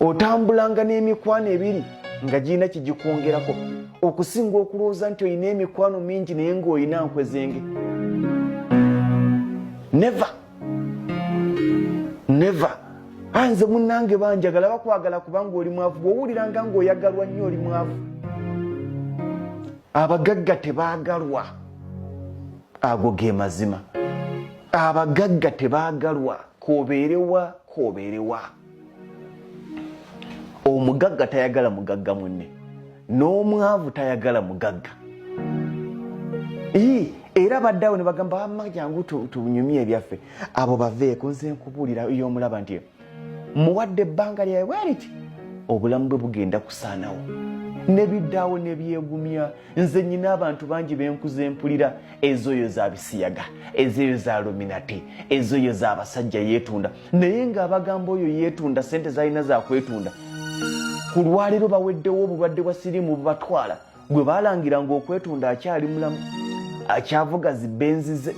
otambulanga n'emikwano ebiri nga girina kigikwongerako okusinga okulowooza nti olina emikwano mingi naye ngaolina nkwezenge neve neve anze ah, munange banjagala bakwagala kubanga oli mwavu bwowuliranga ngaoyagalwa nnyo oli mwavu abagagga tebaagalwa ago ge mazima abagagga tebaagalwa kobeerewa kobeerewa omugagga tayagala mugagga munne n'omwavu tayagala mugagga ii era baddawo ne bagamba wamma jangu tunyumye ebyaffe abo baveeko nze nkubuulira yomulaba nti muwadde ebbanga lyawe bweriti obulamu bwe bugenda kusaanawo ne biddawo ne byegumya nze nyina abantu bangi benkuza empulira ezoyo za bisiyaga ezeyo za luminati ezoyo za basajja yetunda naye nga abagamba oyo yetunda sente zalina zakwetunda ku lwaliro baweddewo obulwadde bwa sirimu bubatwala gwe balangira nga okwetunda akyali mulamu akyavuga zibenzize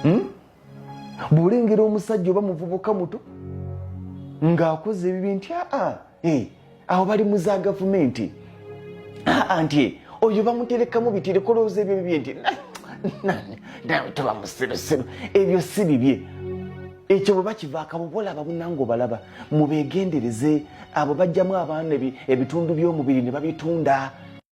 hmm? bwolengera omusajja oba muvubuka muto ng'akoze ebibi nti aa eh, awo bali mu za gavumenti aa nti eh, oyo bamuterekamu bitirekolooza ebyo bibye nti nawe toba musirusiru ebyo si bibye ekyo bwe bakivaaka bubolaba bunanga obalaba mubeegendereze abo bajjamu abaana ebitundu by'omubiri ne babitunda